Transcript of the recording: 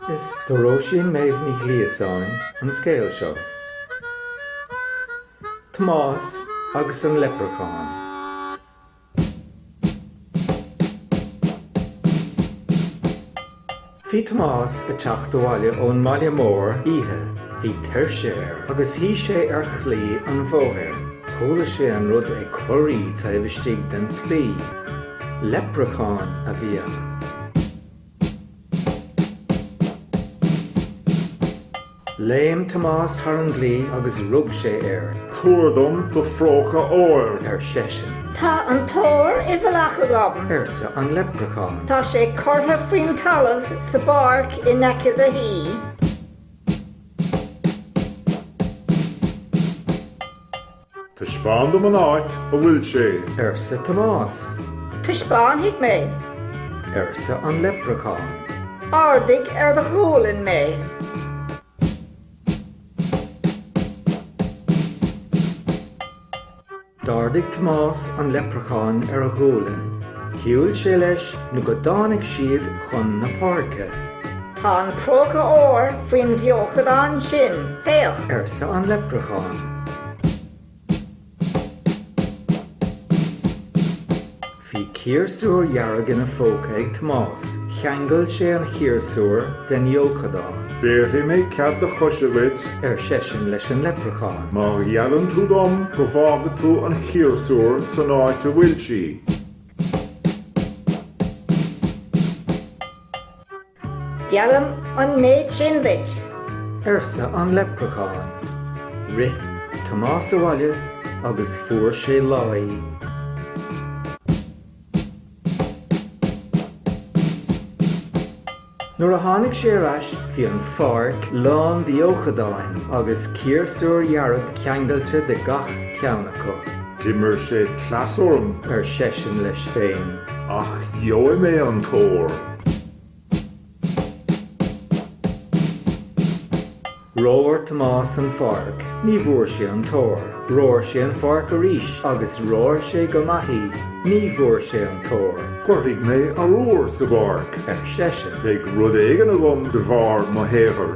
Is do Róisín Méabh Ní Ghliasáin an scéal seo. Tomás agus an Leipreachán. Bhí Tomás ag teacht abhaile ó'n mbaile mór oíche. Bhí tuirse air agus shuidh sé ar chlaí an bhóthair. Chuala sé an rud ag corraí taobh istigh den chlaí. Leipreachán a bhí ann. Léim Tomás thar an gclaí agus rug sé air. Tabhair dom do phróca óir! ar seisean. Tá an t-ór i bhfalach agam! arsa an leipreachán. Tá sé curtha faoin talamh sa bpáirc i n-aice do thí. Taispeán dom an áit a bhfuil sé. arsa Tomás. Taispeánfaidh mé. arsa an leipreachán. Ardaigh ar do ghualainn mé. D'ardaigh Tomás an leipreachán ar a ghualainn. Shiúil sé leis nó go dtáinig siad chun na páirce. Tá an próca óir faoin bhfeochadán sin, féach! arsa an leipreachán. Bhí ciarsúr dhearg ina phóca ag Tomás. Cheangail sé an chiarsúr den fheochadán. Béarfaidh mé cead do choise dhuit, ar seisean leis an leipreachán. má gheallann tú dom go bhfágfaidh tú an chiarsúr san áit a bhfuil sí. Geallaim an méid sin duit. arsa an leipreachán. Rith Tomás abhaile agus fuair sé láí. Nuair a tháinig sé ar ais bhí an pháirc lán d'fheochadáin agus ciarsúr dhearg ceangailte de gach ceann acu. D'imir sé cleas orm. ar seisean leis féin. Ach gheobhaidh mé an t-ór. Rómhair Tomás an pháirc. Ní bhfuair sé an t-ór. Rómhair sé an pháirc arís agus rómhair sé go maith í. Ní bhfuair sé an t-ór. Cuirfidh mé arbhar sa bpáirc, ar seisean. Beidh rud éigin agam de bharr mo shaothair.